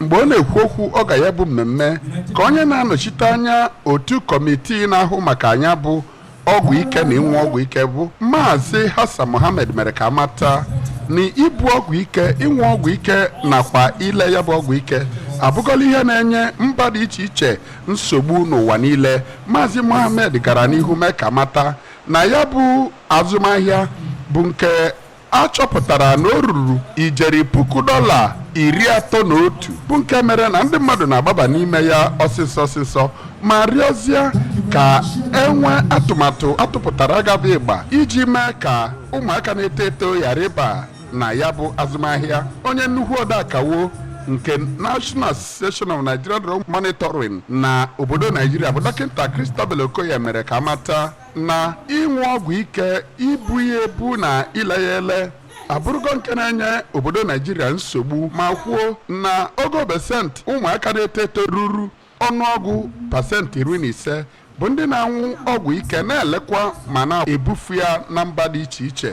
mgbe ọ na-ekwu okwu oge ya bụ mmemme ka onye na-anọchite anya otu kọmitii na-ahụ maka nya bụ ọgwụ ike na ịnwụ ọgwụ ike bụ maazị Hassan Mohammed mere ka a mata na ibu ọgwụ ike ịnwụ ọgwụ ike nakwa ile ya bụ ọgwụ ike abụgọla ihe na-enye mba dị iche iche nsogbu n'ụwa niile maazị Mohammed gara n'ihu mee ka a mata na ya bụ azụmahịa bụ nke A chọpụtara na o ruru ijeri puku dọla iri atọ na otu bụ nke mere na ndị mmadụ na-agbaba n'ime ya ọsịsọ ọsịsọ ma rịọzie ka e nwee atụmatụ a tụpụtara ga-adị ịgba iji mee ka ụmụaka na-eto eto ghara ịba na ya bụ azụmahịa onye nnukwu odeakwụkwọ nke National Association of Nigerian Drug Monitoring na obodo Naijiria bụ dọkịta Christabel Okoye mere ka a mata na ịṅụ ọgwụ ike ibu ya ebu na ile ya ele abụrụgo nke na-enye obodo naijiria nsogbu ma kwuo na ogo pasentị ụmụaka na-eto eto ruru ọnụọgụ pasentị iri na ise bụ ndị na-anwụ ọgwụ ike na-elekwa ma na-ebufu ya na mba dị iche iche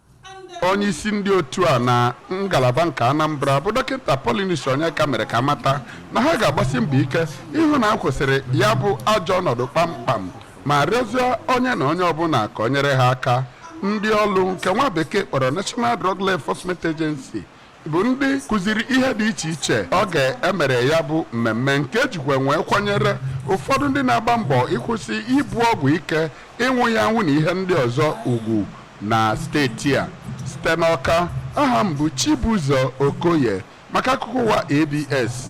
onye isi ndị otu a na ngalaba nke Anambra bụ dọkịta Paulinus Onyeka mere ka a mata na ha ga-agbasi mbọ ike ịhụ na a kwụsịrị ya bụ ajọ ọnọdụ kpamkpam ma rịọzie onye na onye ọbụla ka o nyere ha aka ndị ọrụ nke nwa bekee kpọrọ National Drug Law Enforcement Agency bụ ndị kụziri ihe dị iche iche oge e mere ya bụ mmemme nke e jikwa nwee kwanyere ụfọdụ ndị na-agba mbọ ịkwụsị ibu ọgwụ ike ịnwụ ya anwụ na ihe ndị ọzọ ugwu na steeti a site n'Ọka aha m bụ Chibụzọ Okoye maka akụkọ ụwa ABS